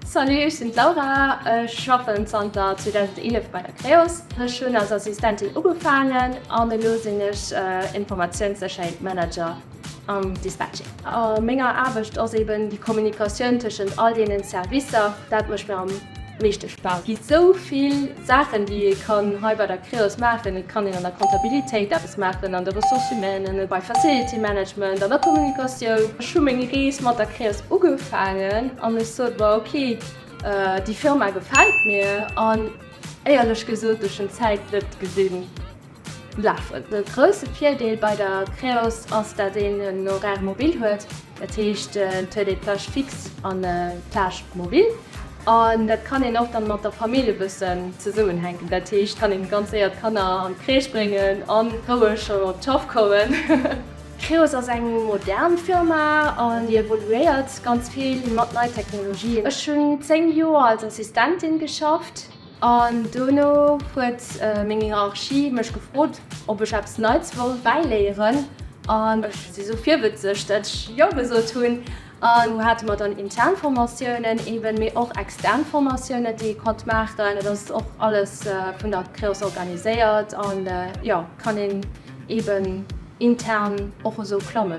Salut, ech sinn d'Laura, ech schaffen zanter 2011 bei der Creos. Ech hunn als Assistentin ugefaangen an elo sinn ech Informatiounssécherheet Manager. am Dispatching. A menger Aarbecht ass eben déi Kommunikatioun tëschent all deenen Servicer, dat mécht mir am meeschte Spaass. Et gi sou vill Saachen, déi ee kann hei bei der Creos maachen. Et kann een an der Kontabilitéit eppes maachen, an de Ressources humaines, bei Facility Management, an der Kommunikatioun. Ech hu meng Rees mat der Creos ugefaangen an ech sot mer, ok, déi Firma gefält mir. An éierlech gesot, ech hunn d'Zäit net gesinn. Lafen. De grousse Virdeel bei der Creos ass, dat een en Horaire mobile huet, dat heescht et huet ee Plage fixe an Plage mobile an dat kann een och dann mat der Famill e bëssen zesummen hänken. Dat heescht kann een ganz séier d'Kanner an d'Crèche bréngen an roueg schonn op d'Schaff kommen. D'Creos ass eng modern Firma an déi evoluéiert ganz vill mat nei Technologien. Ech hunn 10 Joer als Assistentin geschafft. An dono huet meng Hierarchie mech gefrot, ob ech eppes Neits wollt bäiléieren. An ech si sou virwëtzeg, datt ech Jo gesot hunn. An do hate mer dann intern Formatiounen eeben, mee och extern Formatiounen, déi ee konnt maachen. Et ass och alles vun der CREOS organiséiert an jo, kann een eeben intern och esou klammen.